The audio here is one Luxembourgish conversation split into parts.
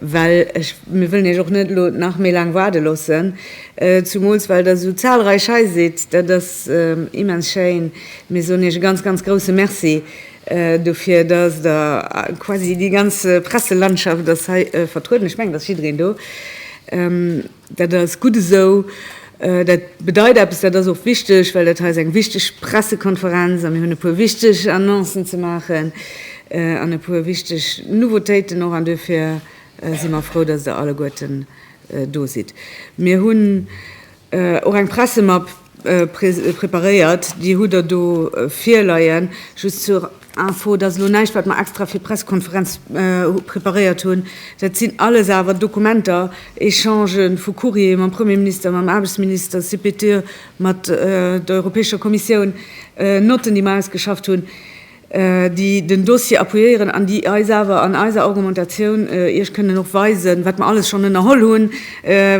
well ech, mir wëllen Iech och net elo nach méi laang waarde loossen, zumools well Der esou zahlreich hei sidd, dat ass immens schéin, mir soen Iech e ganz, ganz grousse Merci dofir, dass Der, quasi déi ganz Presselandschaft ass hei vertrueden, ech mengen, et ass jiddereen do, Dat ass gutt esou. Dat bedeit eppes, dat ass och wichteg, well dat hei ass eng wichteg Pressekonferenz a mir hunn e puer wichteg Annoncen ze maachen an e puer wichteg Nouveautéiten och. An duerfir si mer frou, datt Der alleguerten do sidd. Mir hunn och eng Pressemapp. Preparéiert, déi hutt Der do virleien. Just zur Info, dat ass elo näischt, wat mer extra fir d'Pressekonferenz preparéiert hunn. Dat sinn alles awer Dokumenter, Echange vu Courriere mam Premierminister, mam Aarbechtsminister, CPTE, mat der Europäescher Kommissioun, Notten, déi mer ausgeschafft hunn. déi den Dossier appuyéieren an déi eis awer an eiser Argumentatioun Iech kënnen och weisen, wat mer alles schonn ënnerholl hunn,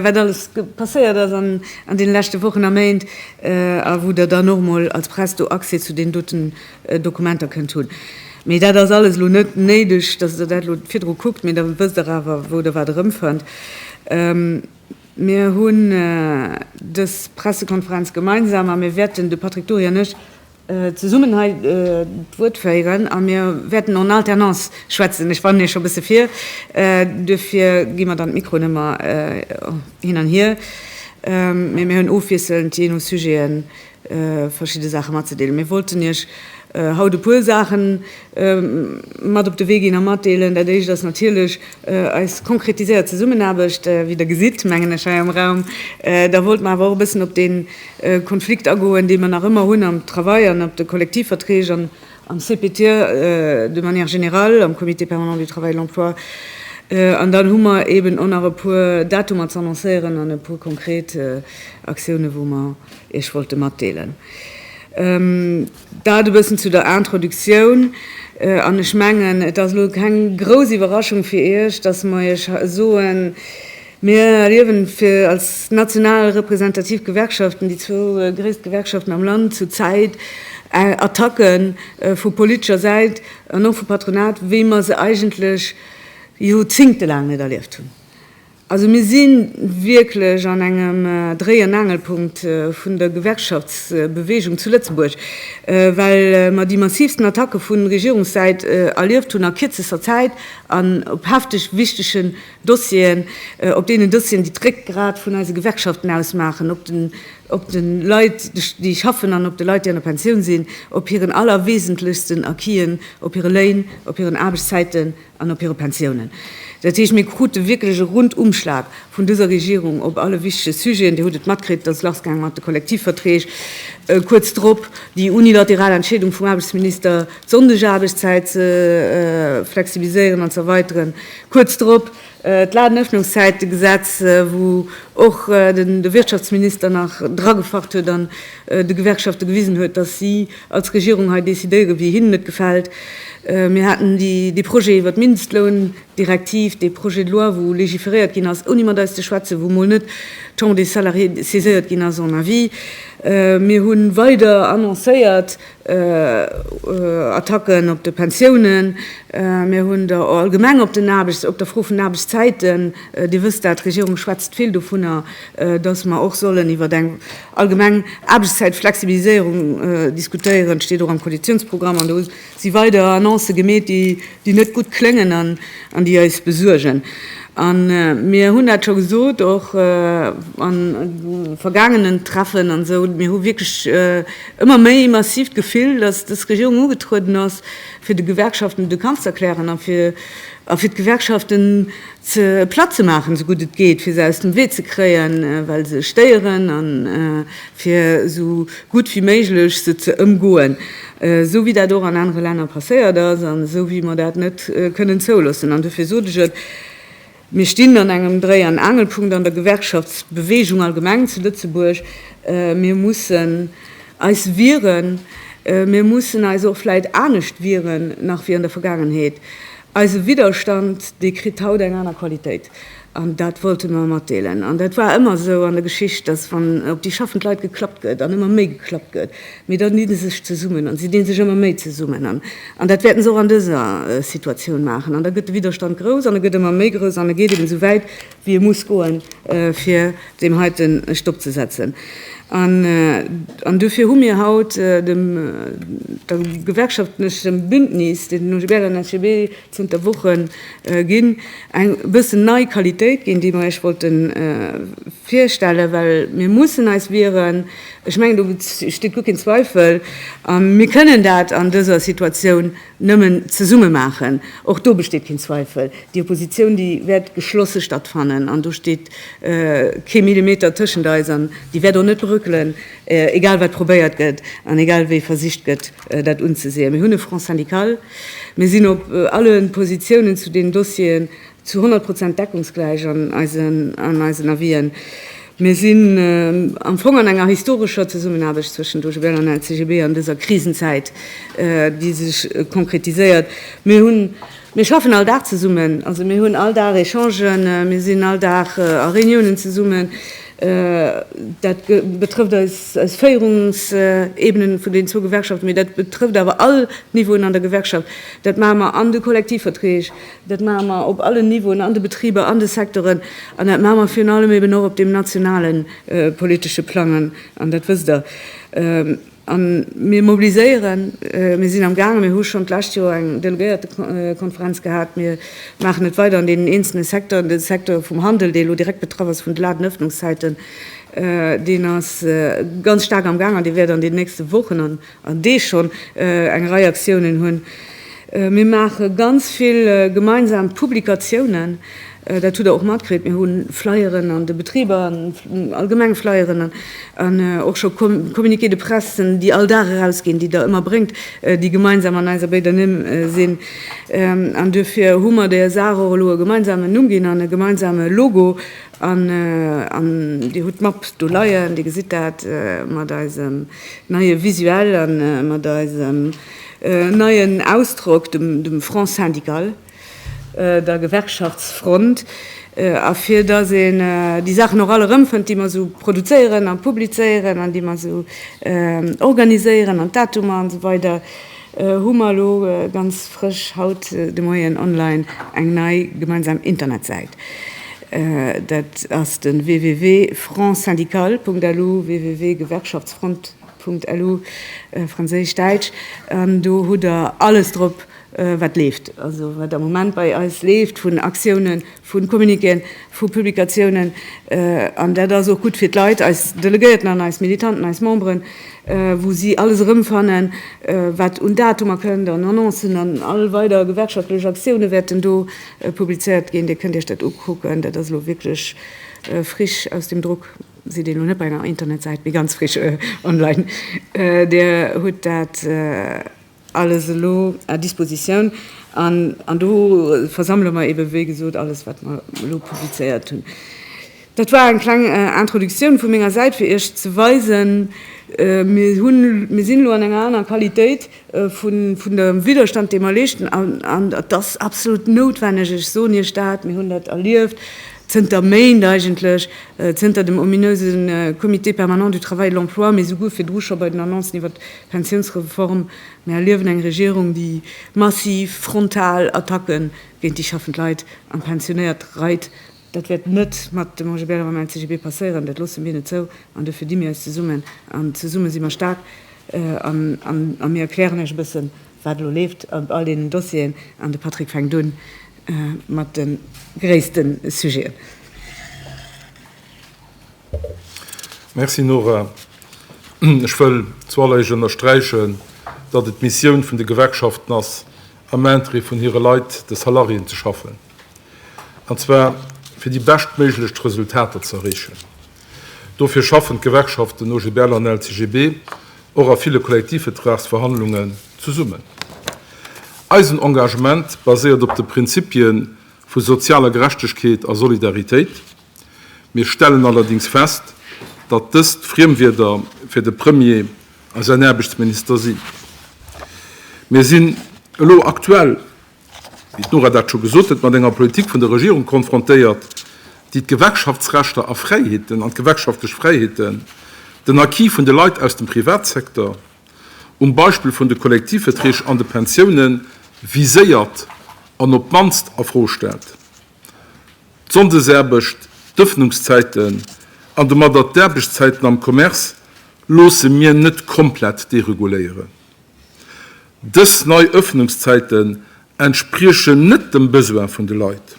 wat alles passéiert ass an deene leschte Wochen a Méint a wou Der dann och emol als Press do Accès zu deenen doten Dokumenter kënnt hunn. Mee dat ass alles elo net néideg, dass Der dat elo virdru kuckt, mee da wësst Der awer, wou Der wat erëmfënnt. Mir hunn dës Pressekonferenz gemeinsam a mir wäerten, de Patrick Dory an ech, zesummen hei d'Wuert féieren a mir wäerten en alternance schwätzen. Ech warne scho bësse vir, duerfir gi mer dann d'Mikroen ëmmer hin an hier, mä mir hunn ofwiesselnd, jee no Sujeten, verschidde Saache matzedeelen. Mir wollten Iech haut e puer Saachen mat op de Wee ginn a matdeelen. Dat éischt ass natierlech eis konkretiséiert Zesummenaarbecht, wéi Der gesitt, mengen ech, hei am Raum. Da wollte mer awer och e bëssen op dee Konflikt agoen, dee mer nach ëmmer hunn am Travail an op de Kollektivverträg an am CPT de manière générale, am Comité permanent du travail et de l'emploi. An dann hu mer eeben och nach e puer Datumer ze annoncéieren an e puer konkret Aktiounen, wou mer Iech wollte matdeelen. Dat e bëssen zu der Introductioun. An ech mengen, et ass elo keng grouss Iwwerraschung fir Iech, dass mer Iech soen, Mir erliewen fir als national representativ Gewerkschaften, déi zwou gréisst Gewerkschaften am Land, zur Zäit Attacke vu politescher Säit an och vum Patronat, wéi mer se eigentlech jorzingtelaang net erlieft hunn. Also mir si wierklech an engem Dréi an Aangelpunkt vun der Gewerkschaftsbeweegung zu Lëtzebuerg, well mer déi massivsten Attacke vu Regierungssäit erlieft hunn a kierzester Zäit an op hefteg wichtegen Dossieren, op deenen Dossieren, déi d'Réckgrat vun eise Gewerkschaften ausmaachen, op de Leit, déi schaffen an op de Leit, déi an der Pensioun sinn, op hiren allerwesentlechsten Acquisen, op hire Léin, op hiren Aarbechtszäiten, an op hire Pensiounen. Dat heescht, mir krute wierklech e Rundumschlag vun dëser Regierung op alle wichtege Sujeten. Dir hutt et matkritt, dass lassgaang mat de Kollektivverträg, kuerz drop déi unilateral Entscheedung vum Aarbechtsminister, d'Sonndegaarbechtszäit ze flexibiliséieren an ze erweiteren, kuerz drop d'Ladenëffnungszäitegesetz, wou och de Wirtschaftsminister nach dragefacht huet an de Gewerkschafte gewisen huet, dass si als Regierung hei decidéiere wéi hinnen et gefält. Mir haten dee Projet iwwer d'Mindestloundirektiv, dee Projet de loi wou legiferéiert ginn ass ouni mat eis ze schwätzen, wou mol net d'Chambre des Salariés saiséiert ginn ass en Avis. Mir hu weider annoncéiert Attacken op de Pensiounen. Mir hunn der allgemeng op der Fro vun Aarbechtszäiten, Dir wësst dat, d'Regierung schwätzt vill dovunner, Dass mer och sollen iwwert eng allgemeng Aarbechtszäitflexibiliséierung diskutéieren, steet och am Koalitionsprogramm. An do si weider Annoncë gemeet, déi net gutt kléngen an déi eis besuergen. A mir hunn dat scho gesot, och a vergaangenen Treffen an esou, Mir hu wierklech ëmmer méi massiv d'Gefill, dass dës Regierung ugetrueden ass, fir de Gewerkschaften de Kampf z'erklären a fir d'Gewerkschaften ze platt ze maachen, esou gutt et geet, fir se aus dem Wee ze kréien, well se stéieren, a fir esou gutt wéi méiglech se ze ëmgoen, esou wéi dat och an anere Länner passéiert ass an esou wéi mer dat net kënnen zouloossen. An dofir sot ech et, Mir stinn an engem Dréi an Angelpunkt an der Gewerkschaftsbeweegung allgemeng zu Lëtzebuerg. Mir mussen eis wieren. Mir mussen eis och vläicht anescht wieren nach wéi an der Vergaangenheet. Eise Widderstand, dee kritt haut eng aner Qualitéit. An dat wollte mer matdeelen. An dat war ëmmer esou an der Geschicht, dass wann op déi schaffend Leit geklappt gëtt an ëmmer méi geklappt gëtt, mee dann dinn se sech zesummen an se dinn sech ëmmer méi zesummen. An dat wäerten se och an dëser Situatioun maachen. An da gëtt de Widderstand grouss an e gëtt ëmmer méi grouss an e geet eben esou wäit, wéi e muss goen, fir deem heite e Stopp ze setzen. An duerfir hu mir haut dem gewerkschaftlechem Bündnis, deen den OGBL an d'SGB zënter Woche ginn, eng e bëssen nei Qualitéit ginn, déi mir Iech wollte virstellen, well mir mussen eis wieren. Ech mengen, do besteet guer keen Zweifel. A mir kënnen dat an dëser Situatioun nëmmen zesumme maachen, och do besteet keen Zweifel, déi Opposition, déi wäert geschlosse stattfannen an do steet kee Millimeter tëschent eis an déi wäert och net bréckelen, egal wat probéiert gëtt an egal wéi versicht gëtt, dat unzeseeën. Mir hunn e Front syndical, mir sinn op alle Positionen zu deenen Dossieren Zu 100 Prozent deckungsgläich an eisen Avisen. Mir sinn am Fong an enger historescher Zesummenaarbecht zwëschen d'OGBL an LCGB an dëser Krisenzäit, déi sech konkretiséiert. Mir hunn, mir schaffen all Dag zesummen, also mir hunn all Dag Echangen, mir sinn all Dag a Reuniounen zesummen. Dat betrëfft eis Féierungsebenen vun den zwou Gewerkschaften, mee dat betrëfft awer all Niveauen an der Gewerkschaft. Dat maache mer an de Kollektivverträg, Dat maache mer op allen Niveauen, an de Betriber, an de Secteuren, an dat maache mer virun allem eben och op deem nationale politesche Plang, an dat wësst Der. A mir mobiliséieren, mir sinn amgaangen, mir hu schonn d'lescht Joer eng Delegéiertekonferenz gehat, mir maachen et weider an deenen eenzele Secteuren, de Secteur vum Handel, dee elo direkt betraff ass vun de laten Öffnungszäiten, deen ass ganz staark amgaangen, dee wäert an deenen nächste Wochen an an Deeg schonn eng Rei Aktiounen hunn. Mir maache ganz vill gemeinsam Publikatiounen, dat hutt Der och matkritt. Mir hu Flyeren an de Betriber, allgemeng Flyeren an och scho Communiqués de presse, déi all Dag erausginn, déi Der ëmmer bréngt, déi gemeinsam an eiser béider Nimm sinn. An duerfir hu mer der Saach och elo e gemeinsamen Numm ginn an e gemeinsame Logo. An Dir hutt d'Map do leien, Dir gesitt dat mat eisem. neie Visuel a mat eisem neien Ausdrock, dem Front syndical, der Gewerkschaftsfront, a fir dass een déi Saachen och all erëmfënnt, déi mer esou produzéieren a publizéieren an déi mer esou organiséieren an d'Datumer an esou weider. hu mer elo ganz frësch haut de Moien online eng nei gemeinsam Internetsäit. Dat ass de www.frontsyndical.lu, www.gewerkschaftsfront.lu, franséisch, däitsch, an do hutt Der alles drop, wat leeft, also wat am Moment bei eis leeft vun Aktiounen, vu Communiquéen, vu Publikatiounen, an dat ass och gutt fir d'Leit, eis Delegéierten an eis Militanten, eis Memberen, wou si alles erëmfannen, wat un Datumer kënnt an Annoncen an all weider gewerkschaftlech Aktioune wäerten do publizéiert ginn. Dir kënnt Iech dat ukucken. Dat ass elo wierklech frisch aus dem Drock. Sidd elo net bei enger Internetsäit, mee ganz frisch online. Dir hutt dat. alles elo à disposition an an do versammele mer eeben, wéi gesot, alles, wat mer elo publizéiert hunn. Dat war eng kleng Introduktioun vu menger Säit, fir Iech ze weisen, mir hunn, mir sinn elo an enger anerer Qualitéit vun vun dem Widderstand, dee mer leeschten, an an et ass absolut noutwenneg, ech soen Iech dat, mir hunn dat erlieft zënter Méint eigentlech, zënter dem ominöse Comité permanent du travail et de l'emploi, mee souguer virdru scho bei den Annoncen iwwert Pensiounsreform, Mir erliewen eng Regierung, déi massiv, frontal Attacke géint déi schaffend Leit an Pensionéiert reit. Dat wäert net mat dem OGBL a mam LCGB passéieren, dat loosse mir net zou. An dofir di mir eis zesummen, an zesumme si mer staark. A mir erklären Iech e bësse wat elo leeft op all deenen Dossieren. An de Patrick fänkt un mat de gréisste Sujeten. Merci Nora. Ech wëll zuallerersch ënnersträichen, datt et d'Missioun vun de Gewerkschaften ass, am Intérêt vun hire Leit, de Salariéen, ze schaffen, an zwar fir déi beschtméiglechst Resultater ze erreechen. Dofir schaffen d'Gewerkschaften OGBL an LCGB och a ville Kollektivvetragsverhandlungen zesummen. Eisen Engagement baséiert op de Prinzippie vu sozialer Gerechtegkeet a Solidaritéit. Mir stellen allerdings fest, datt dëst Friemwierder fir de Premier a säin Aarbechtsminister sinn. Mir sinn elo aktuell, wéi d'Nora dat scho gesot huet, mat enger Politik vun der Regierung konfrontéiert, déi d'Gewerkschaftsrechter a fräiheeten an d'gewerkschaftlech Fräiheeten, den Acquis vun de Leit aus dem Privatsecteur, um Beispill vun de Kollektivverträg an de Pensiounen, viséiert an op d'mannst a Fro stellt. d'Sonndesaarbecht, d'Ëffnungszäiten an domadder d'Aarbechtszäiten am Commerce loosse mir net komplett dereguléieren. Dës nei Ëffnungszäiten entspriechen net dem Besoin vun de Leit.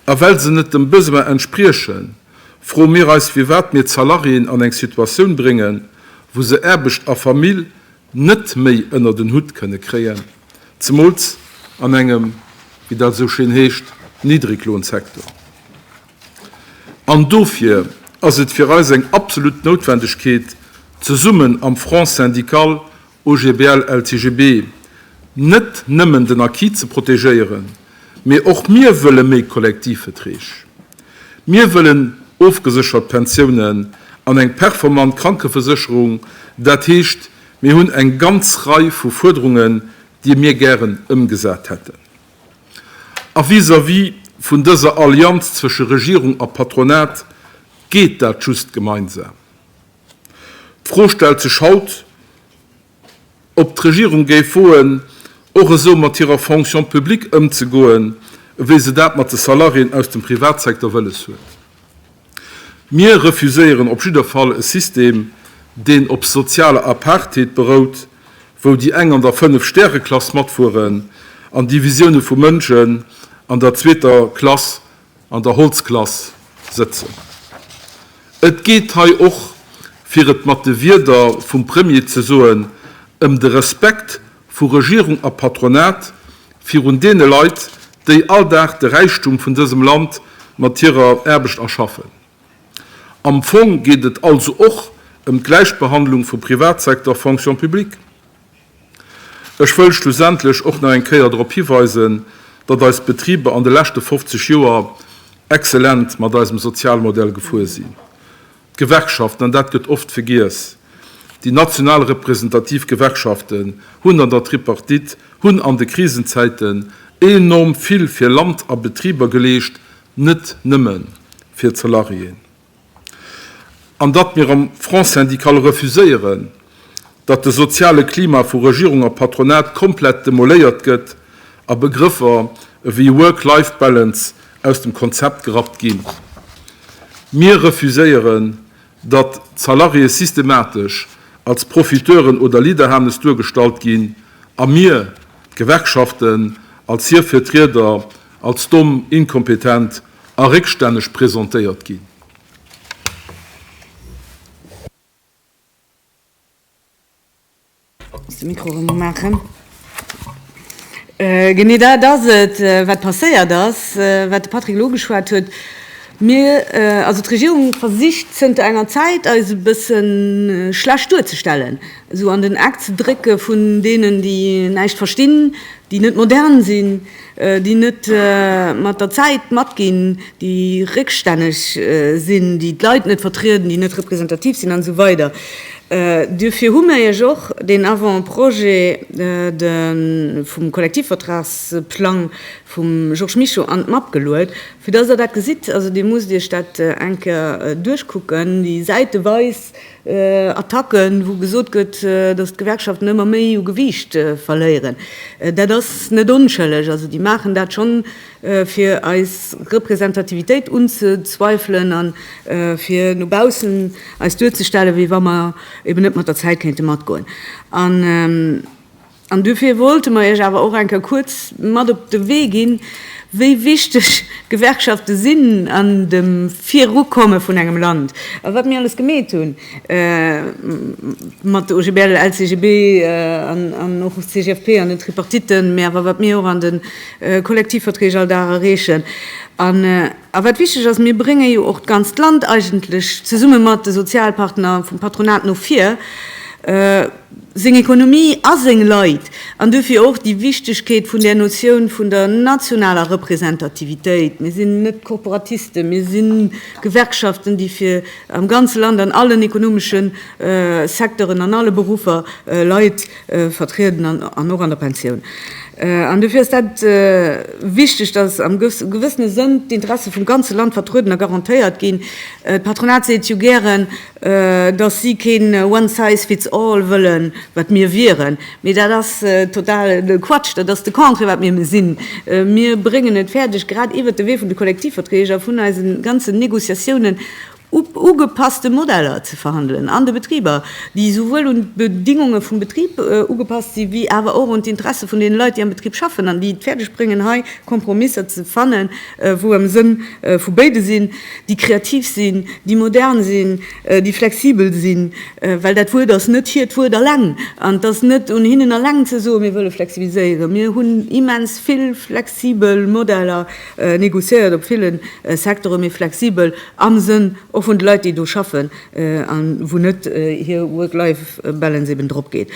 A well se net dem Besoin entspriechen, froe mir eis, firwat mir d'Salariéen an eng Situatioun bréngen, wou se Aarbecht a Famill net méi ënner den Hutt kënne kréien, zemools an engem, wéi dat esou schéin heescht, Niddriglohnsektor. An dofir ass et fir eis eng absolut Noutwendegkeet, zesummen am Front syndical OGBL-LCGB net nëmmen den Acquis ze protegéieren, Mee och mir wëlle méi Kollektivveträg. Mir wëllen ofgeséchert Pensiounen an eng performant Krankevesécherung. Dat heescht, mir hunn eng ganz Rei vu Fuerderungen, déi mir gären ëmgesat hätten. A vis-à-vis vun dëser Allianz zwësche Regierung a Patronat geet dat just gemeinsam. D'Fro stellt sech haut. ob d'Regierung géif woen, och esou mat hirer Fonction publique ëmzegoen, wéi se dat mat de Salariéen aus dem Privatsecteur wëlles huet. Mir refuséieren op jidder Fall e System, deen op sozialer Apartheid berout, wou déi eng an der Fënnef-Stäre-Klass matfueren an Divisioune vu Mënschen an der zweeter Klass, an der Holzklass sëtzen. Et geet hei och, fir et mat de Wierder vum Premier ze soen, ëm de Respekt vu Regierung a Patronat virun deene Leit, déi all Dag de Räichtum vun dësem Land mat hirer Aarbecht erschaffen. Am Fong geet et also och ëm d'Gläichbehandlung vu Privatsecteur, Fonction publique. Ech wëll schlussendlech och nach eng Kéier drop hiweisen, datt eis Betriber an de leschte 50 Joer exzellent mat eisem Sozialmodell gefuer sinn. D'Gewerkschaften, an dat gëtt oft vergiess, déi national representativ Gewerkschaften hunn an der Tripartite, hunn an de Krisenzäiten enorm vill fir Land a Betriber geleescht, net nëmme fir d'Salariéen. An datt mir am Front syndical refuséieren, datt de soziale Klima vu Regierung a Patronat komplett demoléiert gëtt a Begrëffer ewéi Work-Life Balance aus dem Konzept gerappt ginn. Mir refuséieren, datt d'Salariéë systematesch als Profiteuren oder Lidderhanes duergestallt ginn a mir, d'Gewerkschaften, als hir Vertrieder als domm, inkompetent a réckstänneg presentéiert ginn. Genee dat ass et, wat passéiert ass, wat de Patrick elo ugeschwat huet. Mir, also d'Regierung versicht zënter enger Zäit, eis e bësse schlecht duerzestellen, esou an den Eck ze drécke vun deenen, déi näischt verstinn, déi net modern sinn. déi net mat der Zäit matginn, déi réckstänneg sinn, déi d'Leit net vertrieden, déi net representativ sinn an esou weider. Duerfir hu mir Iech och den Avant-projet vum Kollektivvertragsplang vum Georges Mischo an d'Mapp geluet, fir dass Der dat gesitt. Also, Dir musst Iech dat eng Kéier duerchkucken, déi säiteweis Attacken, wou gesot gëtt, datt d'Gewerkschaften ëmmer méi u Gewiicht verléieren, dat ass net onschëlleg. Also déi maachen dat schonn, fir eis Representativitéit unzezweifelen a fir no baussen eis duerzestellen, wéi wa mer eben net mat der Zäit kéinte matgoen. An duerfir wollte mer Iech awer och eng Kéier kuerz mat op de Wee ginn, wéi wichteg d'Gewerkschafte sinn an dem Virukomme vun engem Land a wat mir alles gemeet hunn mat de OGBL, LCGB an och CGFP an den Tripartitten, mä awer wat mir och an de Kollektivverträg all Dag erreechen an a wat wichteg ass, Mir brénge jo och d'ganzt Land eigentlech zesumme mat de Sozialpartner vum Patronat no vir. seng Ekonomie a seng Leit, an duerfir och déi Wichtegkeet vun där Notioun vun der nationaler Representativitéit. Mir sinn net Korporatisten, mir si Gewerkschaften, déi fir am ganze Land an allen ekonomesche Secteuren, an alle Beruffer Leit vertrieden, an och an der Pensioun. An duerfir ass dat wichteg, datt am gewëssene Sënn d'Interesse vum ganze Land vertrueden a garantéiert ginn. D'Patronat seet jo gären, dass si keen one size fits all wëllen, wat mir wieren, mee dat ass totale Quatsch, dat ass de Contraire, wat mir sinn. Mir bréngen et fäerdeg, grad iwwert de Wee vun de Kollektivverträg a vun eise ganzen Négociatiounen, ugepasste Modeller ze verhandelen an de Betriber, déi esouwuel un d'Bedingunge vum Betrib ugepasst sinn, wéi awer och un d'Interesse vun deene Leit, déi am Betrib schaffen an déi et fäerdeg bréngen, hei Kompromisser ze fannen, wou am Sënn vu béide sinn, déi kreativ sinn, déi modern sinn, déi flexibel sinn, well dat Wuert ass net hiert Wuert eleng an et ass net un hinnen eleng ze soen, mir wëlle flexibiliséieren. Mir hunn immens vill flexibel Modeller négociéiert op ville Secteuren, mee flexibel am Sënn och vun de Leit, déi do schaffen a wou net hir Work-Life-Balance eben dropgeet.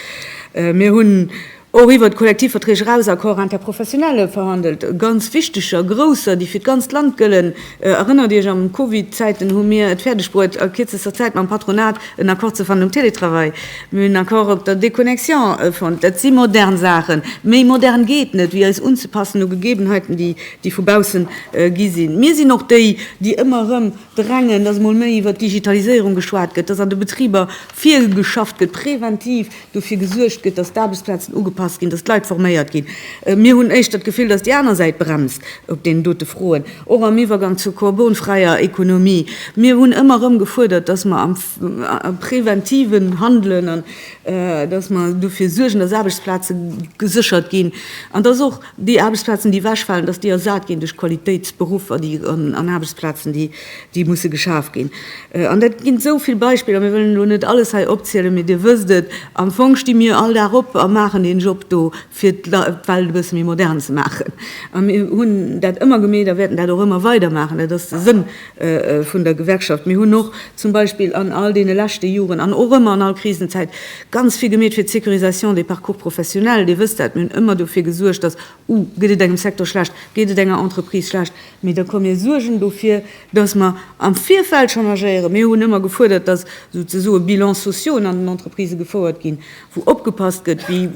Mir hunn och iwwert d'Kollektivverträg eraus, Accords interprofessionnelle verhandelt, ganz wichteger, grousser, déi fir d'ganzt Land gëllen. Erënnert Iech, am Covid-Zäiten hu mir et fäerdeg bruet, a kierzester Zäit mam Patronat en Accord ze fannen um Télétravail. Mir hunn en Accord op der Déconnexion fonnt. Dat si modern Saachen. Méi modern geet net, wéi eis unzepassen u Gegebenheiten, déi vu baussen gi sinn. Mir sinn och déi, déi ëmmer erëm Drängen, dass emol méi iwwert d'Digitaliséierung geschwat gëtt, dass an de Betriber virgeschafft gëtt, präventiv dofir gesuergt gëtt, dass d'Aarbechtsplazen ugepasst ginn, dass d'Leit forméiert ginn. Mir hunn éischter d'Gefill, dass déi aner Säit bremst op deenen dote Froen, och am Iwwergang zur korbonfräier Ekonomie. Mir hunn ëmmer erëm gefuerdert, dass mer am präventiven handelen an dass mer dofir suergen, dass Aarbechtsplaze geséchert ginn an dass och, Déi Aarbechtsplazen, déi ewechfalen, dass déi ersat ginn duerch Qualitéitsberuffer, déi an Aarbechtsplazen, déi musse geschaf ginn. An dat ginn esou vill Beispiller, mir wëllen elo net alles hei opzielen, mee Dir wësst et, am Fong sti mir all Dag op a maachen deen Job do, fir d'Welt e bësse méi modern ze maachen. A mir hunn dat ëmmer gemeet a wäerten dat och ëmmer weidermaachen. Dat ass de Sënn vun der Gewerkschaft. Mir hunn och zum Beispill an all deene leschte Joren an och ëmmer an all Krisenzäit ganz vill gemeet fir d'Sécurisation des parcours professionnels. Dir wësst dat, mir hunn ëmmer dofir gesuergt, dass, uh, gëtt et engem Secteur schlecht, geet et enger Entreprise schlecht, mee da komm mir suergen dofir, dass mer am Virfeld schonn agéieren. Mir hunn ëmmer gefuerdert, dass souzesoe Bilans sociaux an den Entreprisë gefouert ginn wou opgepasst gëtt, wéi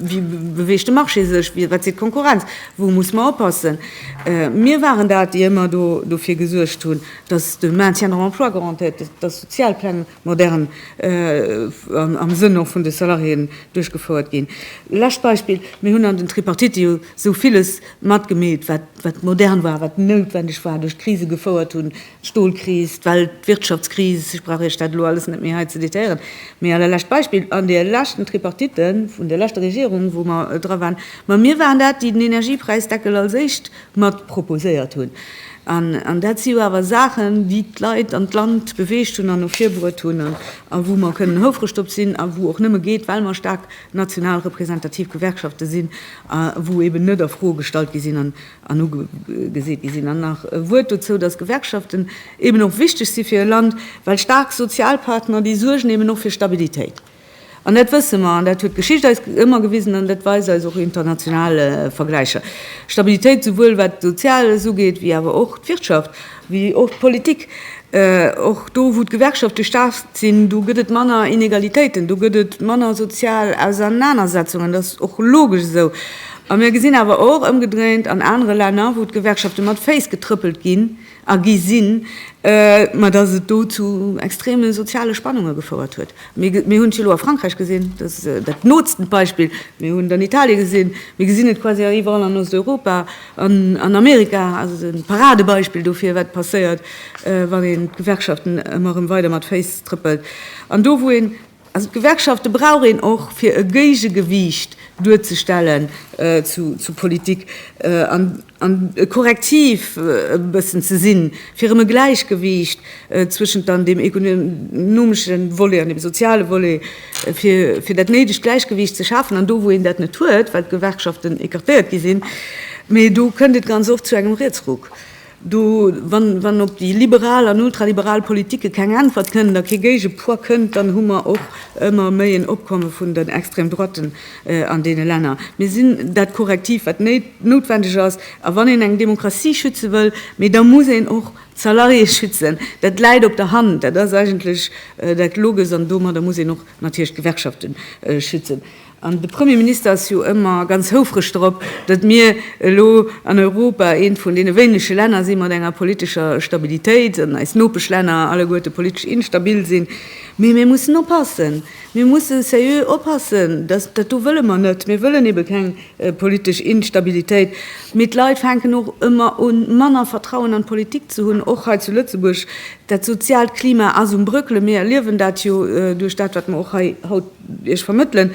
beweegt de Marché sech, wat seet d'Konkurrenz, wou muss mer oppassen. Mir waren dat, déi ëmmer do dofir gesuergt hunn, datt de Maintien dans l'emploi garantéiert gëtt, datt Sozialpläng modern am Sënn och vun de Salariéen duerchgefouert ginn. Lescht Beispill, Mir hunn an den Tripartite jo esou villes matgemeet, wat modern war, wat noutwendeg war, duerch d'Krise gefouert hunn, Stolkris, d'Weltwirtschaftskris, ech brauch Iech dat elo alles net méi hei ze détailléieren, mee allerlescht Beispill, an deer leschten Tripartite vun deer leschter Regierung, wou mer dra waren, ma mir waren dat, déi den Energiepräisdeckel als éischt mat proposéiert hunn, an dat si jo awer Saachen, déi d'Leit an d'Land beweegt hunn an no vir bruet hunn a wou mer kënnen houfreg drop sinn a wou och nëmme geet, well mer staark national representativ Gewerkschafte sinn a wou eeben net a Fro gestallt gi sinn. an ugeseet gi sinn. An nach e Wuert dozou, dass Gewerkschaften eben och wichteg si fir e Land, well staark Sozialpartner, déi suergen eben och fir Stabilitéit. An dat wësse mer, an dat huet d'Geschicht eis ëmmer gewisen, an dat weise eis och international Vergläicher, Stabilitéit souwuel wat d'Soziales ugeet wéi awer och d'Wirtschaft. Wéi och d'Politik. Och do, wou d'Gewerkschafte staark sinn, do gëtt et manner Inegalitéiten, do gëtt et manner sozial Ausernanersetzungen. Dat ass och logesch esou. A mir gesinn awer och ëmgedréint an anere Länner, wou d'Gewerkschafte mat Féiss getrëppelt ginn a gi sinn, mä datt et do zu extreme soziale Spannunge gefouert huet. Mir hunn et jo elo a Frankräich gesinn, dat ass dat nootst Beispill. Mir hunn et an Italie gesinn. Mir gesinn et quasi eriwwerall an Osteuropa. An Amerika ass et e Paradebeispill dofir, wat passéiert, wann een d'Gewerkschaften ëmmer erëm weider mat Féiss trëppelt. An do wou een, also d'Gewerkschafte brauch een och fir e Géigegewiicht duerzestellen zur Politik an e Korrektiv e bëssen ze sinn, fir erëm e Gläichgewiicht zwëschent dann deem ekonomesche Volet an dem soziale Volet fir dat néidegt Gläichgewiicht ze schafen an do, wou een dat net huet, well d'Gewerkschaften écartéiert gi sinn, mee do kënnt et ganz oft zu engem Rietsruck. Do, wann op déi liberal an ultraliberal Politike keng Äntwert kënn, da kee Géigepoids kënnt, dann hu mer och ëmmer méi en Opkomme vun den Extrême-droiten an deene Länner. Mir sinn dat Korrektiv, wat noutwendeg ass. A wann een eng Demokratie schütze wëll, mee da muss een och D'Salariée schützen, dat läit op der Hand, dat ass eigentlech dat Loges an domadder muss een och natierlech d'Gewerkschafte schützen. An de Premier Minister ass jo ëmmer ganz houfreg dorop, datt mir elo an Europa eent vun deene wéinege Länner si mat enger politescher Stabilitéit an eis Nopeschlänner alleguerte politesch instabil sinn. Mee mir mussen oppassen, mir musse seriö oppassen, datt, dat do wëlle mer net, mir wëllen ebe keng politesch Instabilitéit, mee d'Leit fänken och ëmmer un, manner Vertrauen an d'Politik ze hunn, och hei zu Lëtzebuerg. Dat soziaalt Klima ass um brëckelen. Mir erliewen dat jo duerch dat, wat mer och hei haut Iech vermëttelen.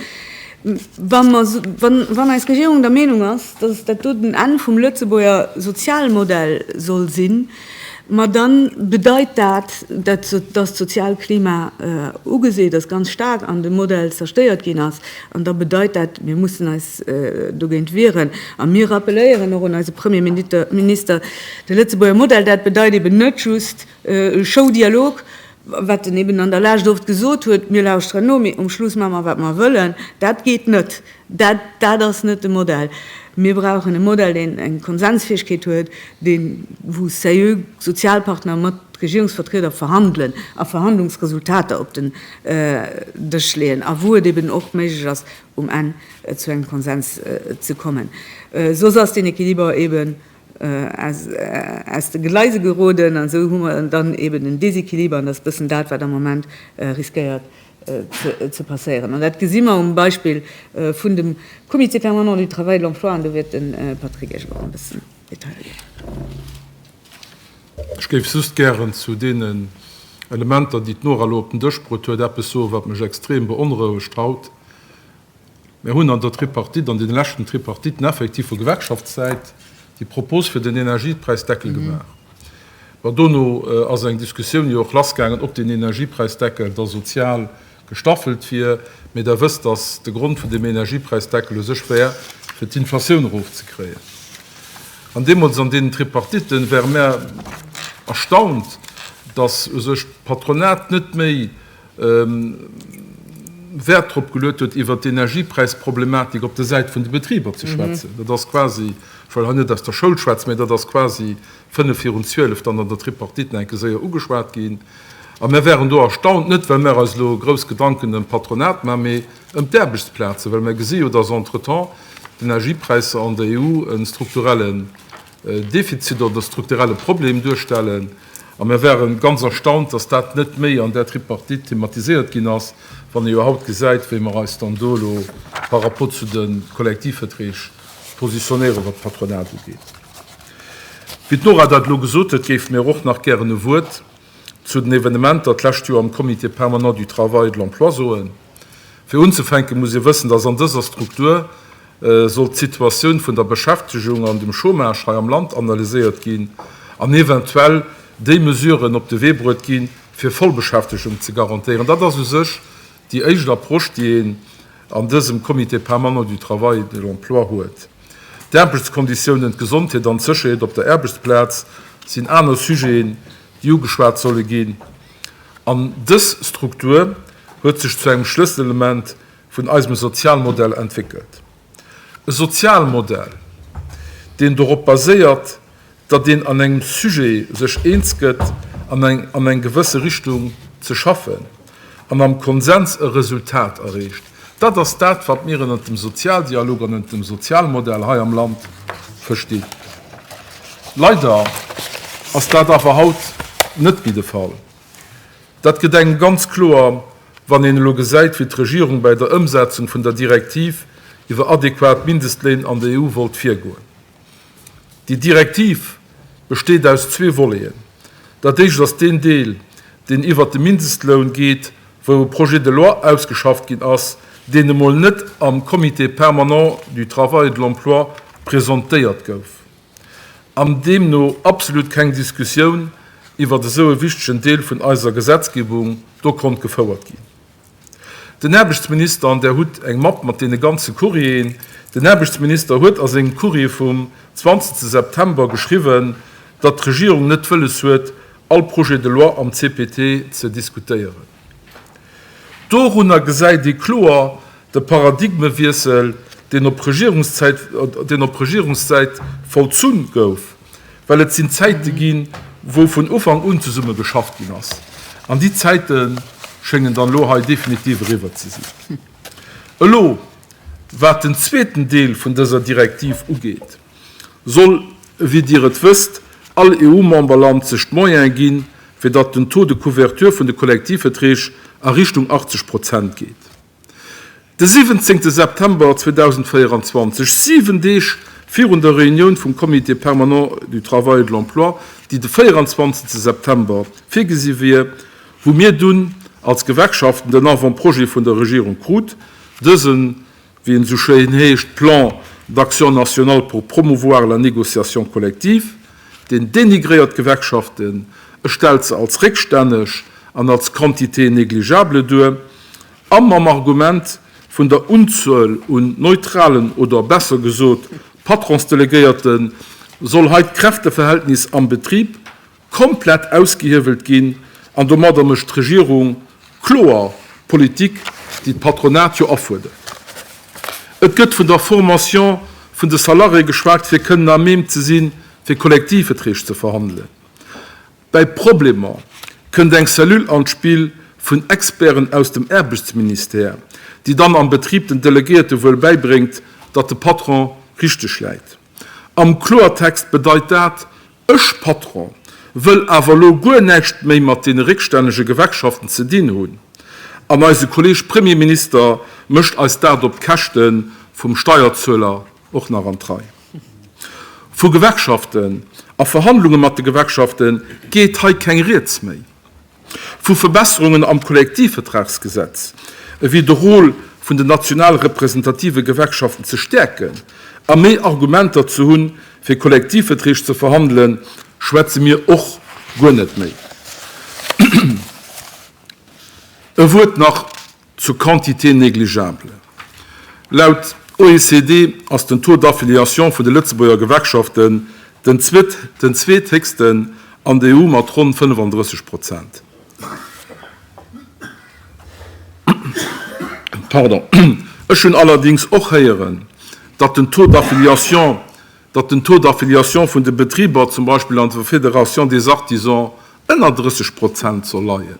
Wa mer, wann eis Regierung der Meenung ass, dass dat do den Enn vum Lëtzebuerger Sozialmodell soll sinn, Ma dann bedeit dat, dat datt d'Sozialklima ugeseet ass, ganz staark an dem Modell zerstéiert ginn ass. An da bedeit dat, mir mussen eis dogéint wieren. A mir rappeléieren och un eise Premier Minister, de Lëtzebuerger Modell, dat bedeit eben net just Show-Dialog, wat en eben an der Lescht oft gesot huet, mir lauschteren no, mee um Schluss maa mer wat mer wëllen, dat geet net. Dat, dat ass net de Modell. Mir brauchen e Modell, deen eng Konsensfäegkeet huet, deen, wou seriö Sozialpartner mat Regierungsvertrieder verhandelen a Verhandlungsresultater op den Dësch leeën a wou et eben och méiglech ass, um Enn zu engem Konsens ze kommen. Soss ass deen Equiliber eben aus de Gleise geroden an esou hu mer dann eben en Déséquiliber an dat ass e bëssen dat, wat am Moment riskéiert ze passéieren. An dat gesi mer um Beispill vun dem Comité permanent du travail, de l'emploi an do wäert de Patrick Esch och e bëssen Detailler ginn. Ech géif just gären zu deenen Elementer, déi d'Nora elo op den Dësch bruet huet, eppes soen, wat mech extrem beonrouegt haut, Mir hunn an der Tripartite, an deene leschten Tripartiten effektiv vu Gewerkschaftssäit déi Propos fir den Energiepräisdeckel gemaach. Mä dono ass eng Diskussioun jo och lassgaangen, ob deen Energiepräisdeckel da sozial gestaffelt wier. Mee Der wësst, datt de Grond vun deem Energiepräisdeckel u sech wär, fir d'Inflatioun erofzekréien. An deemools an deenen Tripartiten ware mer erstaunt, datt u sech d'Patronat net méi Wäert drop geluet huet, iwwert d'Energiepräisproblematik op der Säit vun de Betriber ze schwätzen. Dat ass quasi, ech wëll hei net aus der Schoul schwätzen, mä dat ass quasi fënnef virun zwielef dann an der Tripartite nach eng Kéier séier ugeschwat ginn. A mir waren do erstaunt, net well mir eis elo grouss Gedanken ëm d'Patronat maachen, mä ëm d'Aarbechtsplazen, well mir gesi jo, dass entretemps d'Energiepräisser an der EU e strukturelle Defizit oder de strukturelle Problem duerstellen. A mir waren ganz erstaunt, dass dat net méi an där Tripartite thematiséiert ginn ass, wann ee jo haut gesäit, wéi mer eis dann do elo par rapport zu de Kollektivverträg positionéieren, wat d'Patronat ugeet. Wéi d'Nora dat elo gesot huet, géife mir och nach gären e Wuert, Zu den Evenementer d'lescht Joer am Comité permanent du Travail et de l'Emploi soen. Fir unzefänken, muss ee wëssen, dass an dëser Struktur soll d'Situatioun vun der Beschäftegung an dem Chômage hei am Land analyséiert ginn an eventuell déi Mesuren op de Wee bruet ginn, fir Vollbeschäftegung ze garantéieren. Dat ass u sech déi éischt Approche, déi een an dësem Comité permanent du Travail et de l'Emploi huet. D'Aarbechtskonditiounen, d'Gesondheet an d'Sécherheet op der Aarbechtsplaz sinn aner Sujeten, déi ugeschwat solle ginn. An dës Struktur huet sech zu engem Schlësselelement vun eisem Sozialmodell entwéckelt. E Sozialmodell, deen dorop baséiert, datt een an engem Sujet sech eens gëtt an eng an eng gewësse Richtung ze schaffen an am Konsens e Resultat erreecht. Dat ass dat, wat mir ënnert dem Sozialdialog an ënnert dem Sozialmodell hei am Land verstinn. Leider ass dat awer haut net méi de Fall. Dat gëtt engem ganz kloer, wann een elo gesäit, wéi d'Regierung bäi der Ëmsetzung vun der Direktiv iwwer adequat Mindestléin an der EU wollt virgoen. Déi Direktiv besteet aus zwee Voleten. Dat éischt ass deen Deel, deen iwwert de Mindestloun geet, wou e Projet de loi ausgeschafft ginn ass, deen emol net am Comité permanent du travail et de l'emploi presentéiert gouf an deemno absolut keng Diskussioun iwwert esou e wichtegen Deel vun eiser Gesetzgebung do konnt gefouert ginn. Den Aarbechtsminister, an Der hutt eng Mapp mat deene ganze Courrieren, den Aarbechtsminister huet a sengem Courrier vum 20 September geschriwwen, datt d'Regierung net wëlles huet, all Projet de loi am CPT ze diskutéieren. Dorunner gesäit ee kloer de Paradigmewiessel, deen op Regierungszäit vollzunn gouf. well et sinn Zäite ginn, wou vun Ufank un zesumme geschafft ginn ass, an déi Zäite schéngen dann elo hei definitiv eriwwer ze sinn. Elo, wat den zweeten Deel vun dëser Direktiv ugeet, soll, wéi Dir et wësst, all EU-Memberland sech d'Moyene ginn, fir datt den Taux de couverture vun de Kollektivverträg a Richtung 80 Prozent geet. De 17 September 2024, siwen Deeg virun der Reunioun vum Comité permanent du travail et de l'emploi, déi de 24 September virgesi wier, hu mir dunn als Gewerkschaften den Avant-projet vun der Regierung krut, dësen, wéi en esou schéin heescht, Plan d'action national pour promouvoir la négociation collective, deen dénigréiert d'Gewerkschaften, e stellt se als réckstänneg an als quantité négligeable duer. A mam Argument vun der Unzuel un neutralen oder besser gesot Patronsdelegéierte soll hei d'Kräfteverhältnis am Betrib komplett ausgehiewelt ginn an domadder mécht d'Regierung kloer Politik, déi d'Patronat jo afuerdert. Et gëtt vun der Formation vun de Salarié geschwat, fir kënnen à même ze sinn, fir Kollektivveträg ze verhandelen. Bei Problemer kënnt eng Cellule an d'Spill vun Experten aus dem Aarbechtsministère, déi dann am Betrib den Delegéierte wuel bäibréngt, datt de Patron richteg läit. Am Kloertext bedeit dat, Ech, Patron, wëll awer elo guer näischt méi mat deene réckstännege Gewerkschaften ze dinn hunn, an eise Kolleeg Premierminister mécht eis dat op d'Käschte vum Steierzueler. och nach an d'Rei vu Gewerkschaften a Verhandlunge mat de Gewerkschafte geet hei keng Rieds méi vu Verbesserungen am Kollektivvertragsgesetz, ewéi de Rôle vun den national representative Gewerkschaften ze stäerken a méi Argumenter ze hunn, fir Kollektivverträg ze verhandelen, schwätze mir och guer net méi. E Wuert nach Zur Quantité négligeable, Laut OECD ass den Taux d'affiliation vun de Lëtzebuerger Gewerkschaften den zweethéchsten an der EU mat ronn 35 Prozent. Ech hunn allerdings och héieren, datt den Taux d'affiliation datt den Taux d'affiliation vun de Betriber zum Beispill an der Fédération des artisans ënner 30 Prozent soll leien.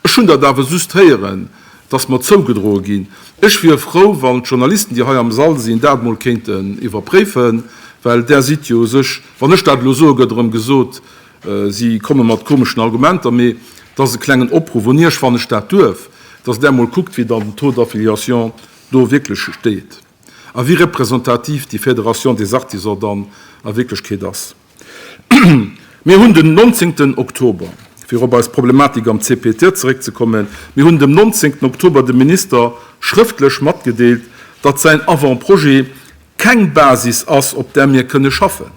Ech hunn dat awer just héieren, datt mer zougedroe ginn. Ech wier frou, wann d'Journalisten, déi hei am Sall sinn, dat emol kéinten iwwerpréifen, well Der sidd jo u sech, wann ech dat elo soe gëtt erëm gesot, si komme mat komeschen Argumenter, mee et ass e klengen Opruff un Iech, wann ech dat duerf, datt Der emol kuckt, wéi dann den Taux d'affiliation do wierklech steet. a wéi representativ déi Fédération des Artisans dann a Wierklechkeet ass. Mir hunn den nonzéngten Oktober, fir op eis Problematik am CPT zeréckzekommen, mir hunn dem nonzéngten Oktober dem Minister schrëftlech matgedeelt, datt säin Avant-projet keng Basis ass, op där mir kënne schaffen.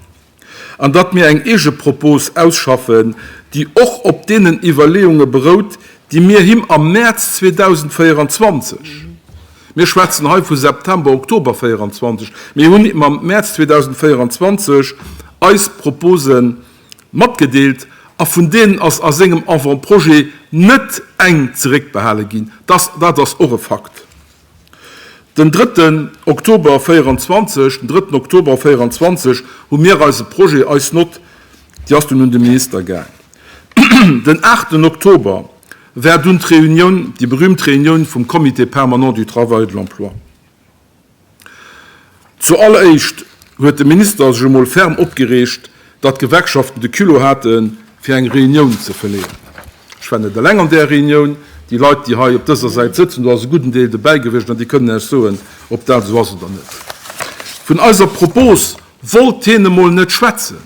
an datt mir eng Eegepropos ausschaffen, déi och op deenen Iwwerleeunge berout, déi mir him am Mäerz 2024, mir schwätzen hei vu September, Oktober 24, mir hunn him am Mäerz 2024 eis Propose matgedeelt a vun deenen ass a sengem Avant-projet net eng zeréckbehale ginn. Dat ass och e Fakt. Den drëtten Oktober 24, den drëtten Oktober 24 hu mir eise Projet, eis Nott, déi ass dunn un de Minister gaang. Den aachten Oktober war dunn d'Reunioun, déi berühmt Reunioun vum Comité permanent du travail et de l'emploi. Zu alleréischt huet de Minister sech emol ferm opgereegt, datt d'Gewerkschaften de Culot hate fir eng Reunioun ze verleeën. Ech war net eleng an där Reunioun. Déi Leit, déi hei op dëser Säit sëtzen, do ass e gudden Deel dobäi gewiescht an déi kënnen Iech soen, ob dat esou ass oder net. Vun eiser Propos wollt hien emol net schwätzen.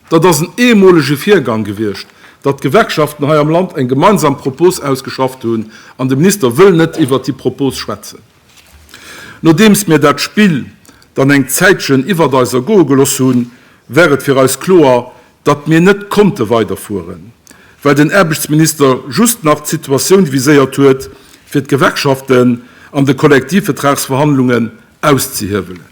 Dat ass en eemolege Virgang gewiescht, datt d'Gewerkschaften hei am Land eng gemeinsam Propos ausgeschafft hunn, an de Minister wëll net iwwert déi Propos schwätzen. Nodeems mir dat Spill dann eng Zäitchen iwwert eis ergoe gelooss hunn, war et fir eis kloer, datt mir net konnte weiderfueren, well den Aarbechtsminister just nach d'Situatioun viséiert huet, fir d'Gewerkschaften an de Kollektivvetragsverhandlungen auszehiewelen.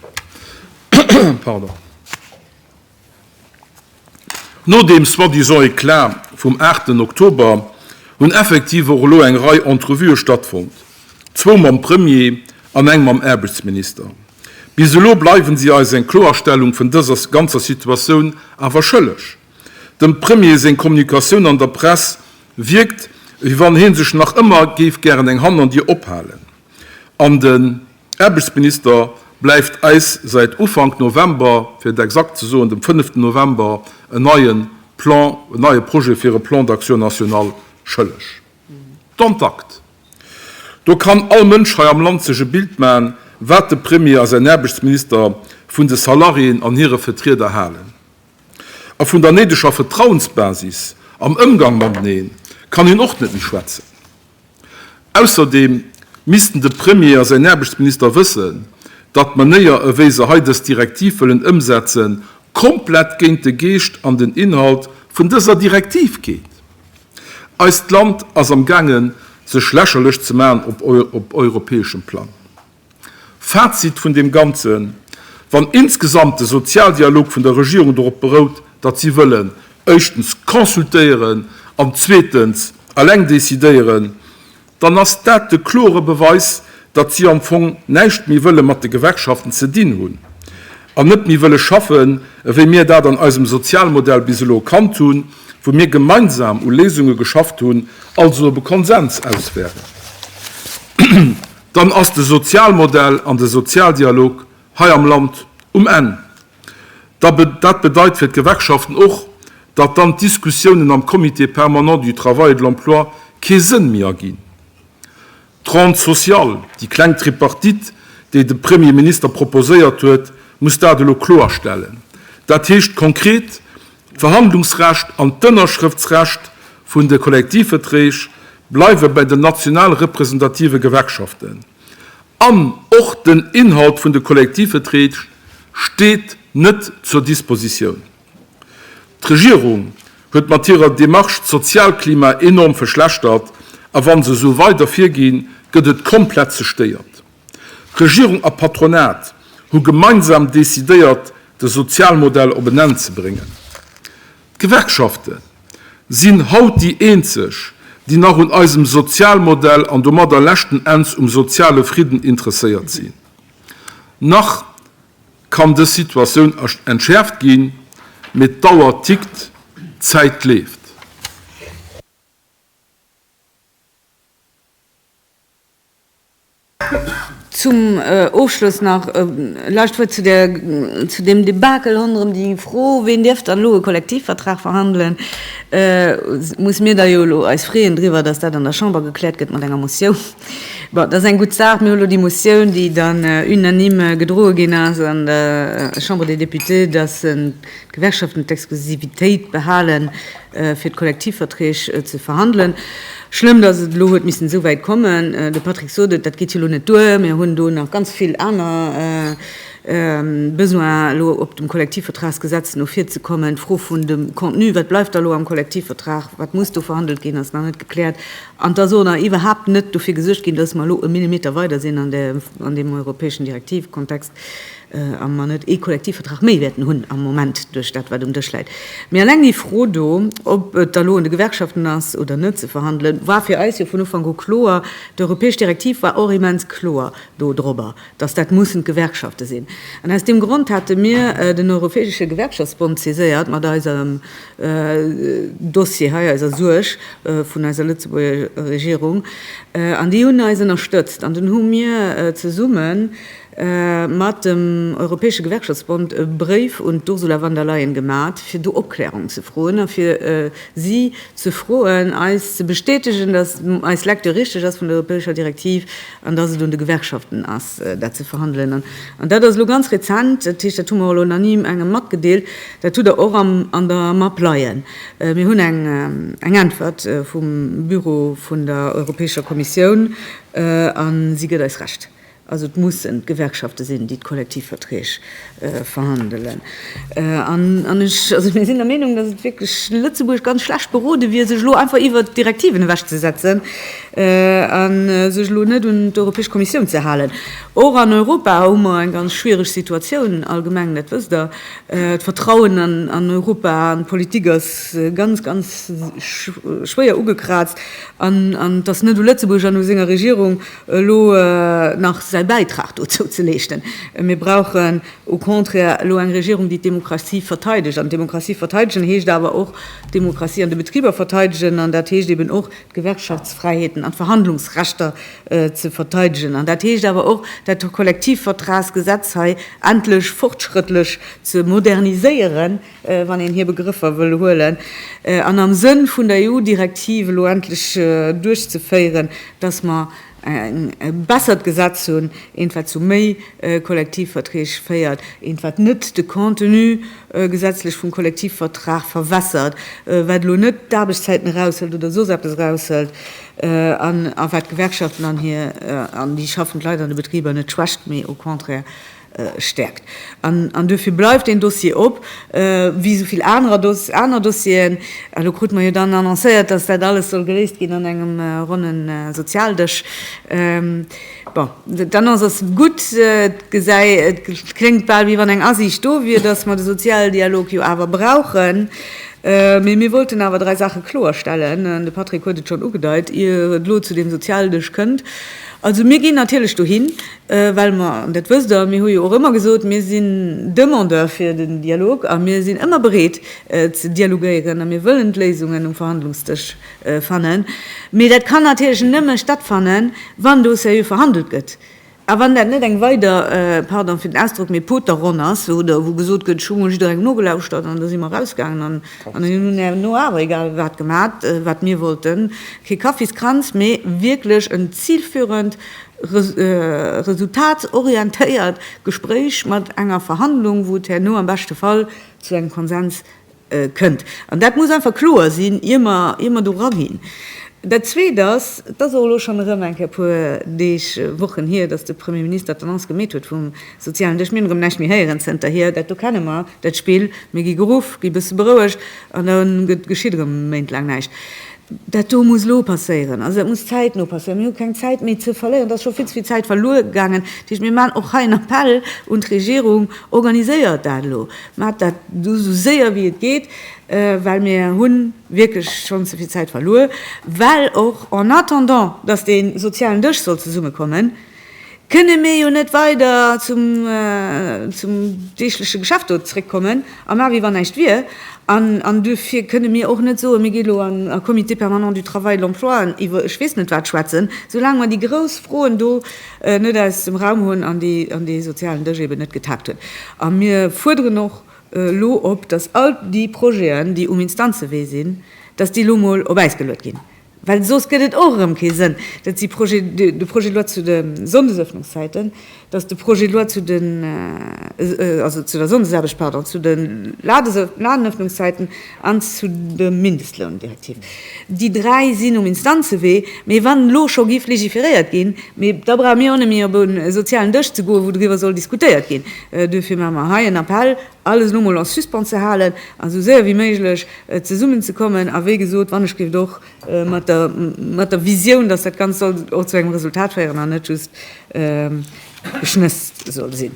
No deem soi-disant Eclat vum aachten Oktober hunn effektiv och elo eng Rei Entrevuë stattfonnt, zwou mam Premier an eng mam Aarbechtsminister. Bis elo bleiwen si eis eng Kloerstellung vun dëser ganzer Situatioun awer schëlleg. Dem Premier seng Kommunikatioun an der Press wierkt, wéi wann hie sech nach ëmmer géif gären eng Hannerdier ophalen an de. Aarbechtsminister bleift eis säit Ufank November, fir et exakt ze soen, dem fënneften November, en neie Plan, en neie Projet fir e Plan d'action national schëlleg. Don t'acte! Do kann all Mënsch hei am Land sech e Bild maachen, wat de Premier a säin Aarbechtsminister vun de Salariéen an hire Vetrieder halen. A vun der néideger Vetrauensbasis am Ëmgang mateneen kann een och net méi schwätzen. Ausserdeem missten de Premier a säin Aarbechtsminister wëssen, datt d'Manéier ewéi se hei dës Direktiv wëllen ëmsetzen, komplett géint de Geescht an den Inhalt vun dëser Direktiv geet. Eist Land ass am gaangen sech lächerlech ze maachen op europäeschem Plang. Fazit vun deem Ganzen, Wann insgesamt de Sozialdialog vun der Regierung dorop berout, datt si wëllen éischtens consultéieren an zweetens eleng decidéieren, dann ass dat de klore Beweis, datt si am Fong näischt méi wëlle mat de Gewerkschaften ze dinn hunn an net méi wëlle schaffen, ewéi mir dat an eisem Sozialmodell bis elo kannt hunn, wou mir gemeinsam u Léisunge geschafft hunn, also op e Konsens aus wären. Dann ass de Sozialmodell an de Sozialdialog hei am Land um Enn. Dat bedeit fir d'Gewerkschaften och, datt dann d'Diskussiounen am Comité permanent du travail et de l'emploi kee Sënn méi erginn. D'Ronde sociale, déi kleng Tripartite, déi de Premier Minister proposéiert huet, muss dat elo kloerstellen. Dat heescht konkret, D'Verhandlungsrecht an d'Ënnerschrëftsrecht vun de Kollektivverträg bleiwe bei den national representative Gewerkschaften an och den Inhalt vun de Kollektivverträg steet net zur Dispositioun. D'Regierung huet mat hirer Demarche d'Sozialklima enorm verschlechtert a wann se esou weider virginn, gëtt et komplett zestéiert. Regierung a Patronat hu gemeinsam decidéiert, de Sozialmodell op en Enn ze bréngen. D'Gewerkschafte sinn haut déi eenzeg, déi nach un eisem Sozialmodell an domadder leschten Enns um soziale Fridden interesséiert sinn. Nach kann dës Situatioun entschäerft ginn, mee d'Auer tickt, d'Zäit leeft. Zum Ofschloss nach e lescht Wuert zu där, zu deem Debakel ronderëm déi Fro, ween dierf dann elo e Kollektivvertrag verhandelen. Et muss mir da jo elo eis freeën driwwer, datt dat an der Chamber gekläert gëtt mat enger Motioun. Bon, dat ass eng gutt Saach. Mir hu lo déi Motioun, déi dann unanime gedroe ginn ass an der Chambre des Députés, datt D'Gewerkschaften d'Exklusivitéit behalen, fir d'Kollektivverträg ze verhandelen. Schlëmm, dass et elo huet missen esou wäit kommen. De Patrick sot et, dat geet jo elo net duer. Mir hunn do nach ganz vill aner Besoinen, elo op dem Kollektivvertragsgesetz no vir ze kommen. D'Fro vun dem Contenu, wat bleift da elo am Kollektivvertrag, wat muss do verhandelt ginn, ass nach net gekläert. An et ass och nach iwwerhaapt net dofir gesuergt ginn, dass mer elo e Millimeter weider sinn an deem europäeschen Direktivekontext. a mer net ee Kollektivvertrag méi wäerten hunn am Moment duerch dat, wat um Dësch läit. Mee eleng déi Fro do, ob et da elo un de Gewerkschaften ass oder net ze verhandelen, war fir eis jo vun Ufank u kloer. D'europäesch Direktiv war och immens kloer do dorobber, dass dat mussen d'Gewerkschafte sinn. An aus deem Grond hate mir den Europäesche Gewerkschaftsbond saiséiert mat eisem Dossier hei, eiser Suerg vun eiser Lëtzebuerger Regierung, an déi hunn eis ënnerstëtzt. An dunn hu mir zesummen, mat dem Europäesche Gewerkschaftsbond e Bréif un d'Ursula von der Leyen gemat, fir do Opklärung ze froen a fir si ze froen, eis ze bestätegen, datt eis Lecture richteg ass vun der europäescher Direktiv an datt et un de Gewerkschaften ass, dat ze verhandelen. An dat ass elo ganz rezent, dat heescht, dat hu mer elo nach ni engem matgedeelt, dat hutt Der och an der Map leien. Mir hunn eng Äntwert vum Büro vun der Europäescher Kommissioun a si gëtt eis Recht. Also et mussen d'Gewerkschafte sinn, déi d'Kollektivverträg verhandelen. An ech, also mir sinn der Meenung, datt et wierklech Lëtzebuerg ganz schlecht berode wier, sech elo einfach iwwert d'Direktiven ewechzesetzen a sech elo net un d'Europäesch Kommissioun ze halen. Och an Europa hu mer eng ganz schwiereg Situatioun allgemeng, dat wësst Der. D'Vertrauen an Europa an d'Politik ass ganz, ganz schwéier ugekraazt. An et ass net u Lëtzebuerg an u senger Regierung, elo nach säi Bäitrag dozou ze leeschten. Mir brauchen au contraire elo eng Regierung, déi d'Demokratie verteidegt. An d'Demokratie verteidegen heescht awer och d'Demokratie an de Betriber verteidegen. An dat heescht eben och d'Gewerkschaftsfräiheeten an d'Verhandlungsrechter ze verteidegen. An dat heescht awer och dat Kollektivvertragsgesetz hei endlech fortschrëttlech ze moderniséieren. wann een hir Begrëffer wëll huelen, an am Sënn vun der EU-Direktiv elo endlech duerchzeféieren, dass mer e bessert Gesetz hunn, eent, wat zu méi Kollektivverträg féiert, eent, wat net de Contenu gesetzlech vum Kollektivvertrag verwässert, wat elo net d'Aarbechtszäiten eraushëlt oder soss eppes eraushëlt, a wat d'Gewerkschaften an déi schaffend Leit an de Betriber net schwächt, mee au contraire stäerkt. An duerfir bleift deen Dossier op, wéi esou vill aner Dossieren. Elo krute mer jo dann annoncéiert, datt dat alles soll geléist ginn an engem ronne Sozialdësch. Bon, d'Annonce ass gutt. Et kléngt bal, wéi wann eng Asiicht do wier, datt mer de Sozialdialog jo awer brauchen. Mee mir wollten awer dräi Saache kloerstellen, an de Patrick huet et schonn ugedeit, ier et elo zu deem Sozialdësch kënnt. Also mir ginn natierlech dohin. Well mer, an dat wësst Der, mir hu jo och ëmmer gesot, mir sinn Demandeur fir den Dialog a mir sinn ëmmer bereet ze dialogéieren a mir wëllen d'Léisungen um Verhandlungsdësch fannen. Mee dat kann natierlech nëmme stattfannen, wann do seriö verhandelt gëtt a wann dat net eng weider, pardon fir den Ausdrock, mee Poterronn ass, oder wou gesot gëtt, ech hu mol jidderengem nogelauschtert an da si mer erausgaangen an mir hunn herno awer egal wat gemat, wat mir wollten. Kee Kaffiskranz, mee wierklech en zilführend resultatsorientéiert Gespréich mat enger Verhandlung, wou et herno am beschte Fall zu engem Konsens kënnt. An dat muss einfach kloer sinn, ier mer, ier mer do eraginn. Dat Zweet ass, et ass och elo schonn erëm eng Kéier e puer Deeg, Wochen hier, datt de Premier Minister d'Annonce gemeet huet vum sozialen Dësch. Mir hunn erëm näischt méi héieren zënterhier. Dat do kenne mer, dat Spill, mir gi geruff, gi e bësse berouegt an da geschitt erëm méintlaang näischt. Dat do muss elo passéieren, also dat muss zäitno passéieren. Mir hu keng Zäit méi ze verléieren, et ass scho vill ze vill Zäit verluer gaangen. Dat heescht, mir maachen och hei en Appell un d'Regierung, Organiséiert dat elo, maacht dat elo esou séier wéi et geet, well mir hu wierklech schonn ze vill Zäit verluer. Well och en attendant, datt dee sozialen Dësch soll zesummekommen, kënne mir jo net weider zum deegleche Geschäft do zréckkommen a maache wéi wann näischt wier. An duerfir kënne mir och net soen, mir gi elo a Comité permanent du travail, de l'emploi an iwwer ech weess net wat schwätzen, soulaang mer déi grouss Froen do net aus dem Raum hunn an dee sozialen Dësch eben net getakt huet. A mir fuerderen och elo op, dass all déi Projeten, déi um Instanzewee sinn, dass déi elo mol op Äis geluet ginn, Well soss gëtt et och erëm kee Sënn, datt si de Projet de loi zu de Sonndesëffnungszäiten, datt de Projet de loi zu den, also zu der Sonndesaarbecht, pardon, zu de Ladenëffnungszäiten an zu der Mindestloundirektiv, déi dräi sinn um Instanzewee. Mee wann elo scho géif legiferéiert ginn, mee da brauche mir och net méi op e sozialen Dësch ze goen, wou driwwer soll diskutéiert ginn. Duerfir maache mer hei en Appell alles elo mol en suspens ze halen a sou séier wéi méiglech zesummen ze kommen a wéi gesot wannechgelift och mat der, mat der Visioun, dass dat Ganzt soll och zu engem Resultat féieren an net just Geschnëss soll sinn.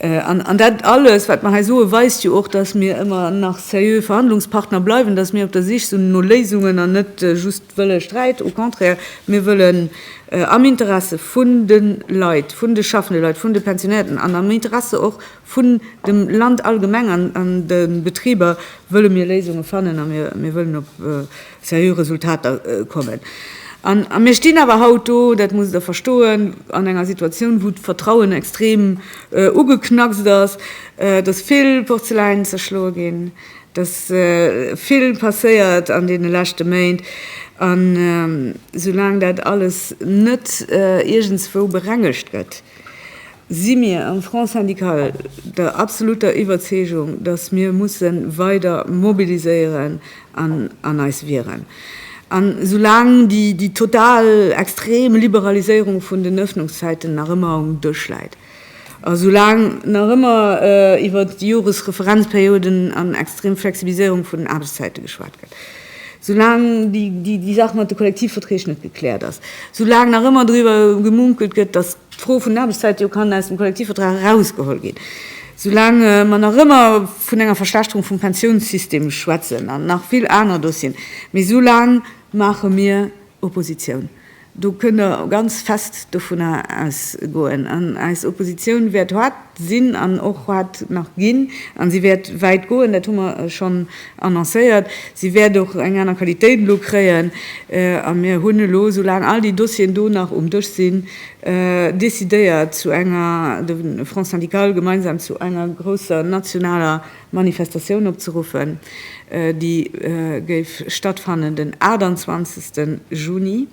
An, an dat alles, wat mer hei soe weist jo och, dass mir ëmmer nach seriö Verhandlungspartner bleiwen, dass mir op der Sich sinn no Léisungen an net just wëlle Sträit. Au contraire, mir wëllen am Interesse vun de Leit, vun de schaffende Leit, vun de Pensionären an am Interesse och Vun dem Land allgemeng an de Betriber wëlle mir Léisunge fannen a mir wëllen op seriö Resultater kommen. A mir stinn awer haut do, dat musst Der verstoen, an enger Situatioun, wou d'Vertrauen extrem ugeknackst ass, dass vill Porzeläin zerschloe ginn, dass vill passéiert an deene leschte Méint. A soulaang dat alles net iergendswou berengegt gëtt, si mir am Front syndical der absoluter Iwwerzeegung, datt mir musse weider mobiliséieren an eis wieren. An esoulaang déi total extrem Liberaliséierung vun den Öffnungszäiten nach ëmmer um Dësch läit, esoulaang nach ëmmer iwwert Joresreferenzperioden an extrem Flexibiliséierung vun den Aarbechtszäite geschwat gëtt, esoulaang déi Saach mat de Kollektivverträg net gekläert ass, esoulaang nach ëmmer driwwer gemunkelt gëtt, datt D'Fro vun den Aarbechtszäite kann aus dem Kollektivvertrag erausgeholl ginn, soulaang mer nach ëmmer vun enger Verschlechterung vum Pensiounssystem schwätzen an nach vill aner Dossieren, mee soulaang maache mir Oppositioun. Do kënnt Der ganz fest dovunner ausgoen. An eis Oppositioun wäert sinn an och wat nach ginn, a si wäert wäit goen, dat hu mer schonn annoncéiert, si wäert och eng aner Qualitéit elo kréien a mir hunn elo, soulaang all déi Dossieren do nach um Dësch sinn, decidéiert zu enger, de Front syndical gemeinsam, zu enger grousser nationaler Manifestatioun opzeruffen, déi géif stattfannen den 28 Juni.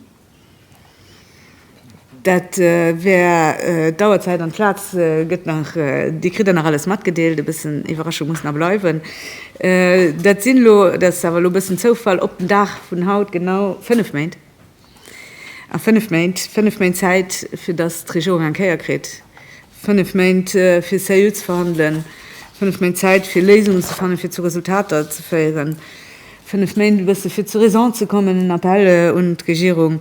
Dat wär d'Auerzäit an d'Plaz gëtt nach, Dir kritt der nach alles matgedeelt. E bëssen Iwwerraschung muss nach bleiwen. Dat sinn elo, dat ass awer elo e bëssen Zoufall, op den Dag vun haut genau fënnef Méint. A fënnef Méint, fënnef Méint Zäit, fir datt d'Regierung eng Kéier kritt, Fënnef Méint fir seriö ze verhandelen, fënnef Méint Zäit fir Léisungen ze fannen, fir zu Resultater ze féieren, fënnef Méint e bësse fir zur Raison ze kommen, en Appell un d'Regierung.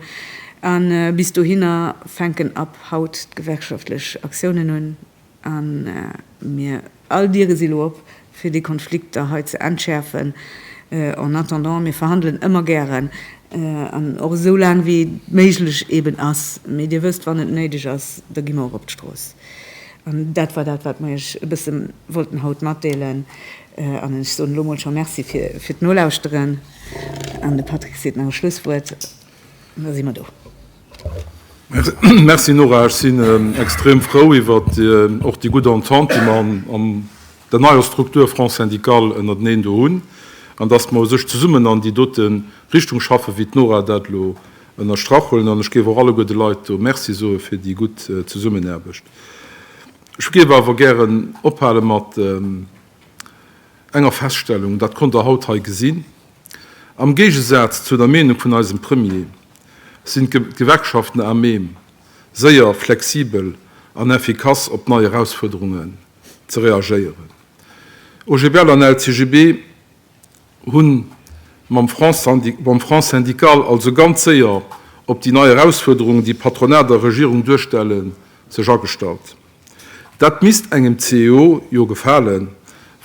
A bis dohinner fänken ab haut d'gewerkschaftlech Aktiounen un a mir All Diere si lo op, fir déi Konflikter hei ze entschäerfen. En attendant, mir verhandelen ëmmer gären an och esou laang wéi et méiglech eeben ass. Mee Dir wësst, wann et néideg ass, da gi mer och op d'Strooss. An dat war dat, wat mer Iech e bësse wollten haut matdeelen. An ech soen elo mol scho Merci fir d'Nolauschteren. An de Patrick seet nach e Schlusswuert. Da si mer do. Merci Nora. Ech sinn extrem frou iwwer och déi gutt Entente, déi mer an der neier Struktur Front syndical ënnerteneen do hunn, an datt mer u sech zesummen an déi dote Richtung schaffen, wéi d'Nora dat elo ënnerstrach huet. An ech géif och alleguer de Leit do Merci soe fir déi gutt Zesummenaarbecht. Ech géif awer gären ophale mat enger Feststellung, dat konnt Der haut hei gesinn, Am Géigesaz zu der Meenung vun eisem Premier sinn d'Gewerkschaften à même, séier, flexibel an effikass op nei Erausfuerderungen ze reagéieren. OGBL an LCGB hunn mam Front syndical also ganz séier op déi nei Erausfuerderungen, déi Patronat a Regierung duerstellen, sech agestallt. Dat misst engem CEO jo gefalen,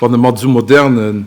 wann e mat esou modernen